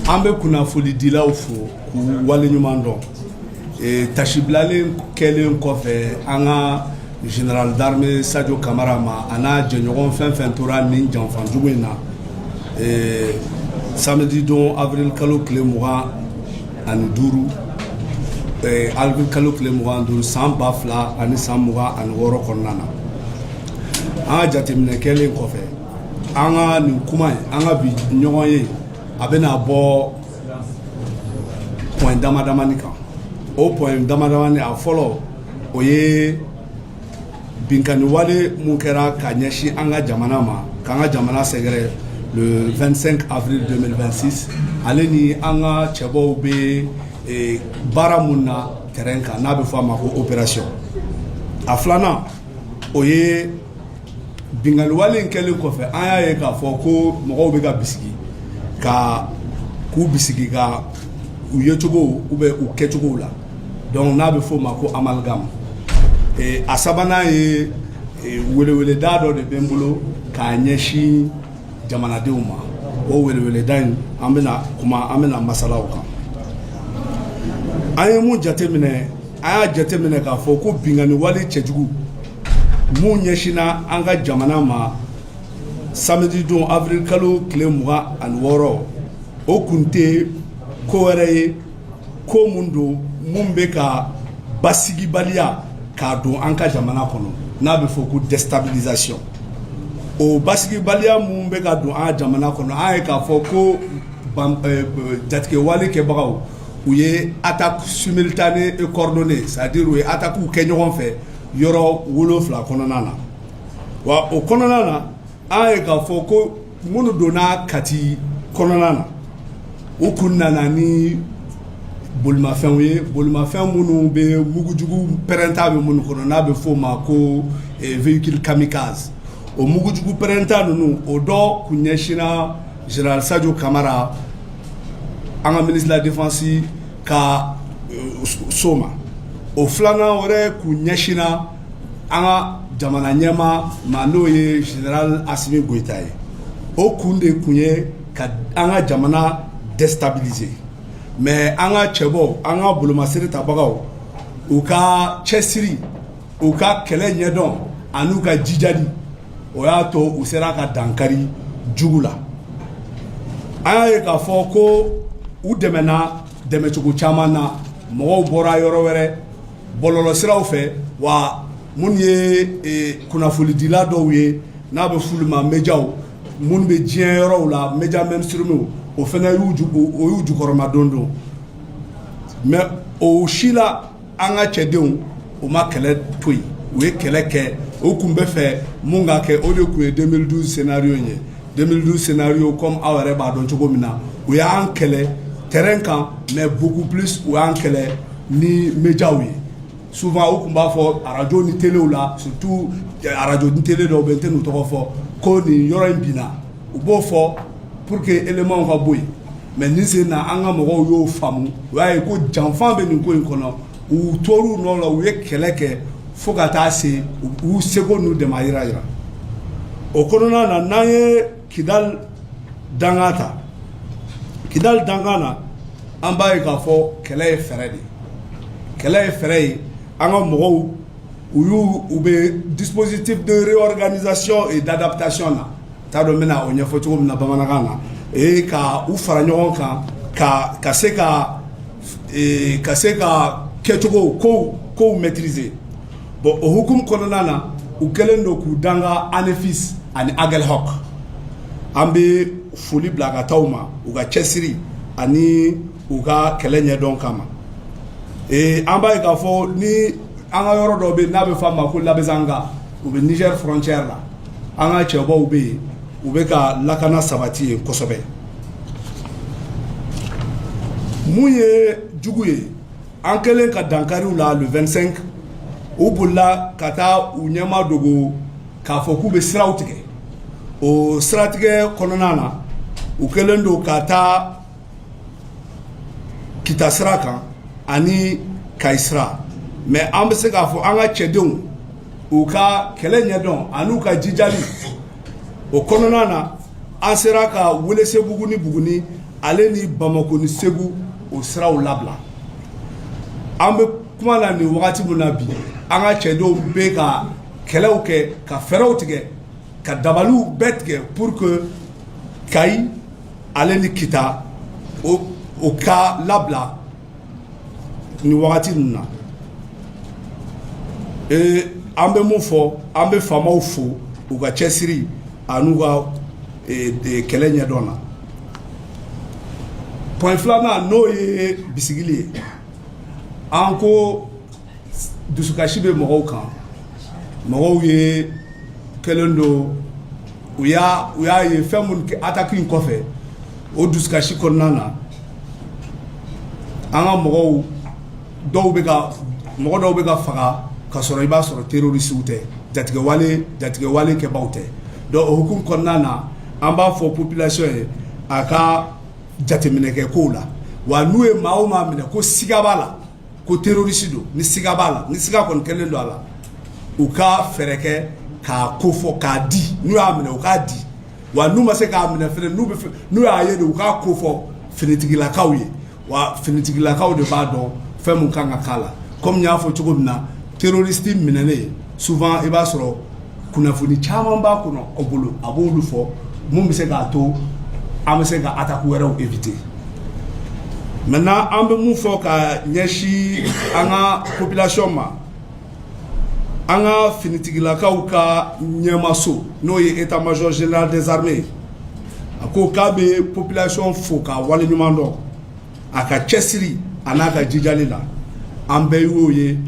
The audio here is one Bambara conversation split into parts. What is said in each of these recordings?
an bɛ kunnafonidilaw fo k'u waleɲuman dɔn eh, tasibilalen kɛlen kɔfɛ an ka général d'armée Sadio Kamara ma a n'a jɛɲɔgɔn fɛn fɛn tora nin janfa jugu in na eh, samedi don avril kalo tile mugan ani duuru eh, avril kalo tile mugan duuru san ba fila ani san mugan ani wɔɔrɔ kɔnɔna na an ka jateminɛ kɛlen kɔfɛ an ka nin kuma in an ka bi ɲɔgɔnye a bɛna bɔ point damadamani kan o point damadamani a fɔlɔ o ye binkanniwale mun kɛra ka ɲɛsin an ka jamana ma k'an ka jamana sɛgɛrɛ le 25 avril 2026 ale ni an ka cɛbɔw bɛ eh, baara mun na terrain kan n'a bɛ fɔ a ma ko opération a filanan o ye binkanni wale in kɛlen kɔfɛ an y'a ye k'a fɔ ko mɔgɔw bɛ ka bisigi ka k'u bisigi ka u yecogo ou bien u kɛcogow la donc n'a bɛ f'o ma ko amalgame eh, a sabanan ye eh, weleweleda dɔ de bɛ n bolo k'a ɲɛsin jamanadenw ma o weleweleda in an bɛna kuma an bɛna masala o kan an ye mun jateminɛ an y'a jateminɛ k'a fɔ ko binkanni wale cɛjugu mun ɲɛsinna an ka jamana ma samedi don avril kalo tile mugan ani wɔɔrɔ o kun tɛ ko wɛrɛ ye ko min don mun bɛ ka basigibaliya k'a don an ka jamana kɔnɔ n'a bɛ fɔ ko déstabilisation o basigibaliya min bɛ ka don an ka jamana kɔnɔ an ye k'a fɔ ko jatigɛwale kɛbagaw u ye attaque simultanée et coordonnée c'est-à-dire u ye attaquew kɛ ɲɔgɔn fɛ yɔrɔ wolo wolonwula kɔnɔna na wa o kɔnɔna na an ye k'a fɔ ko minnu donna Kati kɔnɔna na u kun nana ni bolimafɛnw ye bolimafɛn minnu bɛ mugujugu pɛrɛnta bɛ minnu kɔnɔ n'a bɛ f'o ma ko eh, véhicule kamikaze o mugujugu pɛrɛnta ninnu o dɔ kun ɲɛsinna général Sadio Kamara an ka ministre de la défense ka so ma o filanan wɛrɛ kun ɲɛsinna an ka jamana ɲɛmaa ma n'o ye général Assimi Goïta ye o kun de kun ye ka an ka jamana déstabiliser mais an ka cɛbɔw an ka bolomasiri tabagaw u ka cɛsiri u ka kɛlɛ ɲɛdɔn ani u ka jijali o y'a to u sera ka dankari jugu la an y'a ye k'a fɔ ko u dɛmɛna dɛmɛcogo caman na mɔgɔw bɔra yɔrɔ wɛrɛ bɔlɔlɔsiraw fɛ wa minnu ye e, kunnafonidila dɔw ye n'a bɛ f'olu ma médiaw minnu bɛ diɲɛ yɔrɔw la média mainstream o fana y'u o y'u jukɔrɔmadon don mais o si la an ka cɛdenw u ma kɛlɛ to yen u ye kɛlɛ kɛ o tun bɛ fɛ min ka kɛ o de tun ye deux mille douze scénario ye deux mille douze scénario comme aw yɛrɛ b'a dɔn cogo min na u y'an kɛlɛ terrain kan mais beaucoup plus u y'an kɛlɛ ni médiaw ye souvent u tun b'a fɔ arajo ni telew la surtout arajo ni tele dɔw bɛ n tɛn'u tɔgɔ fɔ ko nin yɔrɔ in binna u b'o fɔ pour que élémentw ka bɔ yen Mais nin sen na an ka mɔgɔw y'o faamu u y'a ye ko janfa bɛ nin ko in kɔnɔ u tor'u nɔ la u ye kɛlɛ kɛ fo ka taa se u seko n'u damajira jira o kɔnɔna na n'an ye Kidal danga ta Kidal danga na an b'a ye k'a fɔ kɛlɛ ye fɛɛrɛ de ye kɛlɛ ye fɛɛrɛ ye an ka mɔgɔw u y'u u bɛ dispositif de réorganisation et d'adaptation na t'a dɔn n bɛna o ɲɛfɔ cogo min na bamanankan na ee ka u fara ɲɔgɔn kan ka ka se ka ka se ka kɛcogo kow maîtriser bon o hukumu kɔnɔna na u kɛlen don k'u danga Anefis ani Aguelhok an bɛ foli bila ka taa u ma u ka cɛsiri ani u ka kɛlɛ ɲɛdɔn kama ee an b'a ye k'a fɔ ni an ka yɔrɔ dɔ bɛ n'a bɛ f'a ma ko Labezanga u bɛ Niger frontière la An ka cɛbaw bɛ yen u bɛ ka lakana sabati yen kosɛbɛ mun ye jugu ye an kɛlen ka dankari u la le vingt-cinq u bolila ka taa u ɲɛma dogo k'a fɔ k'u bɛ siraw tigɛ o siratigɛ kɔnɔna na u kɛlen don ka taa kita sira kan ani kayi sira mais an bɛ se k'a fɔ an ka cɛdenw u ka kɛlɛ ɲɛdɔn an'u ka jijali o kɔnɔna na an sera ka welesebugu ni buguni ale ni bamakɔ ni segu o siraw labila an bɛ kuma na nin wagati min na bi an ka cɛdenw bɛ ka kɛlɛw kɛ ka fɛɛrɛw tigɛ ka dabaliw bɛɛ tigɛ pour que kayi ale ni kita o ka labila ni wagati ninnu na ee an bɛ mun fɔ an bɛ faamaw fo u ka cɛsiri an'u ka kɛlɛ ɲɛdɔn na point filanan n'o ye bisigili ye an ko dusukasi bɛ mɔgɔw kan mɔgɔw ye kɛlen don u u y'a ye fɛn minnu kɛ ataki in kɔfɛ o dusukasi kɔnɔna na an ka mɔgɔw dɔw bɛ ka mɔgɔ dɔw bɛ ka faga ka sɔrɔ i b'a sɔrɔ terrorisiw tɛ jatigɛwale jatigɛwale kɛbaaw tɛ donc o hukumu kɔnɔna na an b'a fɔ population ye a ka jateminɛ kɛ kow la wa n'u ye maa o maa minɛ ko siga b'a la ko terrorisi don ni siga b'a la ni siga kɔni kɛlen don a la u ka fɛɛrɛ kɛ k'a kofɔ k'a di n'u y'a minɛ u k'a di wa n'u ma se k'a minɛ fɛnɛ n'u y'a ye de u k'a kofɔ finitigilakaw ye wa finitigilakaw de b'a dɔn fɛn min kan ka k'a la kɔmi n y'a fɔ cogo min na terrorisi minɛnen souvent i b'a sɔrɔ kunnafoni caman b'a kɔnɔ aw bolo a b'olu fɔ mun bɛ se k'a to an bɛ se ka attaque wɛrɛw éviter maintenant an bɛ mun fɔ ka ɲɛsin an ka population ma an ka finitigilakaw ka ɲɛmaso n'o ye état major général des armées a ko k'a bɛ population fo k'a waleɲuman dɔn a ka cɛsiri a n'a ka jijali la an bɛɛ y'o ye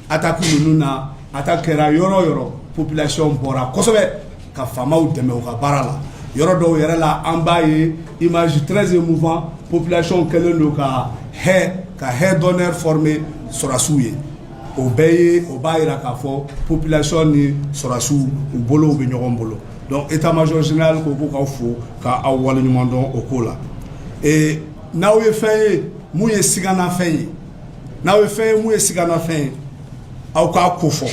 attaque ninnu na attaque kɛra yɔrɔ o yɔrɔ population bɔra kosɛbɛ ka faamaw dɛmɛ u ka baara la yɔrɔ dɔw yɛrɛ la an b'a ye image très émouvant population kɛlen don ka ka haie d'honneur former sɔrɔdasiw ye o bɛɛ ye o b'a yira k'a fɔ population ni sɔrɔdasiw u bolo bɛ ɲɔgɔn bolo donc état major général ko k'aw fo k'aw waleɲuman dɔn o ko la n'aw ye fɛn ye mun ye siganafɛn ye N'aw ye fɛn ye mun ye siganafɛn ye aw k'a kofɔ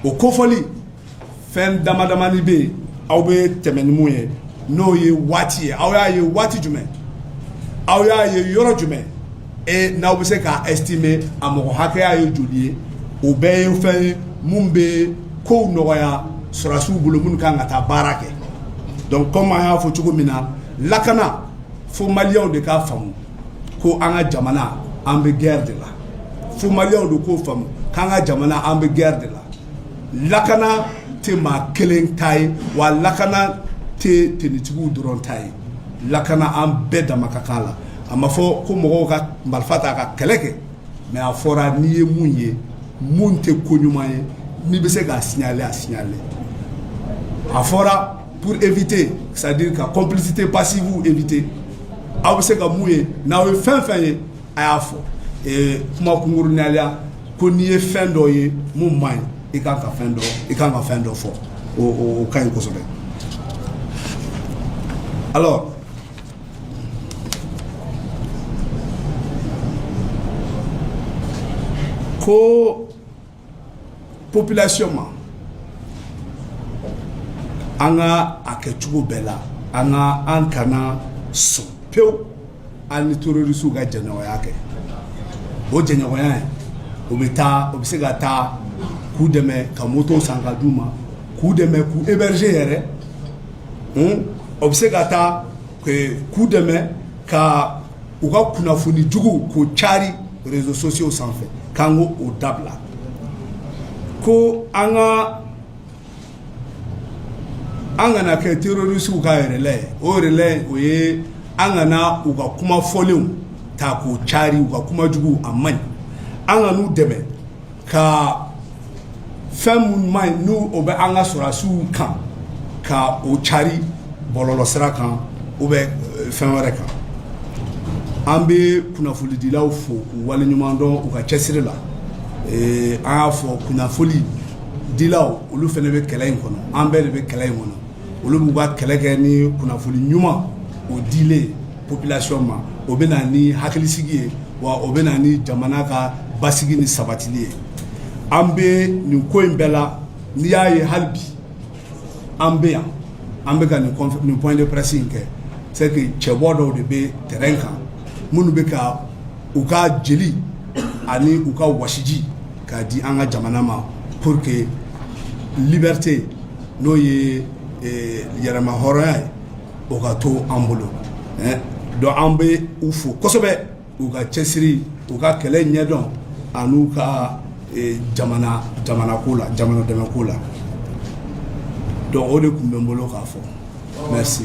o kofɔli fɛn damadamani bɛ yen aw bɛ tɛmɛ ni mun ye n'o ye waati ye aw y'a ye waati jumɛn aw y'a ye yɔrɔ jumɛn e n'aw bɛ se k'a estimer a mɔgɔ hakɛya ye joli ye o bɛɛ ye fɛn ye minnu bɛ kow nɔgɔya sɔrɔdasiw bolo minnu kan ka taa baara kɛ donc comme an y'a fɔ cogo min na lakana fo maliyɛnw de k'a faamu ko an ka jamana an bɛ guerre de la fo maliyɛnw de k'o faamu k'an ka jamana an bɛ guerre de la lakana tɛ maa kelen ta ye wa lakana tɛ tenitigiw dɔrɔn ta ye lakana an bɛɛ dama ka kan la a ma fɔ ko mɔgɔw ka marifa ta ka kɛlɛ kɛ mais a fɔra n'i ye mun ye mun tɛ ko ɲuman ye n'i bɛ se k'a signaler a signaler a fɔra Pour éviter c'est à dire ka complicité passive éviter aw bɛ se ka mun ye n'aw ye fɛn fɛn ye a y'a fɔ ee kuma kunkurunya la ko n'i ye fɛn dɔ ye mun man ɲi i ka kan ka fɛn dɔ i ka kan ka fɛn dɔ fɔ o o ka ɲi kosɛbɛ alors ko population ma an ka a kɛ cogo bɛɛ la an ka an kana sɔn pewu an ni terrorisiw ka jɛɲɔgɔnya kɛ o jɛɲɔgɔnya ye o bɛ taa o bɛ se ka taa k'u dɛmɛ ka moto san ka d'u ma k'u dɛmɛ k'u héberger yɛrɛ o bɛ se ka taa k'u dɛmɛ ka u ka kunnafoni jugu k'o cari réseaux sociaux sanfɛ k'an k'o dabila ko an ka an kana kɛ terroriste ka relais ye o relais o ye an kana u ka kuma fɔlenw ta k'o cari u ka kuma jugu a man ɲi an kan'u dɛmɛ ka fɛn minnu man ɲi ni o bɛ an ka sɔrɔdasiw kan ka o cari bɔlɔlɔsira kan ou bien euh, fɛn wɛrɛ kan an bɛ kunnafonidilaw fo k'u waleɲuman dɔn u ka cɛsiri la ee, an y'a fɔ kunnafonidilaw olu fana bɛ kɛlɛ in kɔnɔ an bɛɛ de bɛ kɛlɛ in kɔnɔ olu b'u ka kɛlɛ kɛ ni kunnafoni ɲuman o dili ye population ma o bɛ na ni hakilisigi ye wa o bɛ na ni jamana ka basigi ni sabatili ye an bɛ nin ko in bɛɛ la n'i y'a ye hali bi an bɛ yan an bɛ ka nin nin point de presse in kɛ c'est que cɛbɔ dɔw de bɛ terrain kan minnu bɛ ka u ka jeli ani u ka wasiji k'a di an ka jamana ma pour que liberté n'o ye yɛrɛmahɔrɔnya ye O ka to an bolo donc an bɛ u fo kosɛbɛ u ka cɛsiri u ka kɛlɛ ɲɛdɔn ani u ka jamana ko la jamana dɛmɛ ko la donc o de tun bɛ n bolo k'a fɔ merci